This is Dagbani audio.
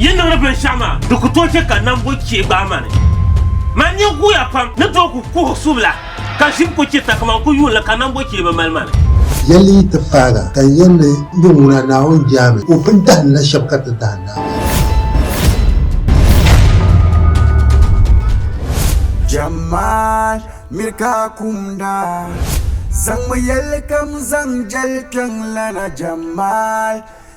Yi niŋdi binshɛɣu maa, di ku tooi chɛ ka nam bo chɛ gbaai ma ni. Man nyin guuya pam ni tooi ku kuhi subila, ka ʒim ku chɛ ta kaman ku yuunli ka nam bo chɛ bi mali ma ni. Yɛli yi ti faaga, ka n yɛn ni n bɛ ŋuna Naawuni Jaami o pun dahindi la shɛb ka ti dahindi a maa. Jamaat miri ka kumda, zaŋmi yɛlikam zaŋ jɛli kpiɔŋ lana Jamaat.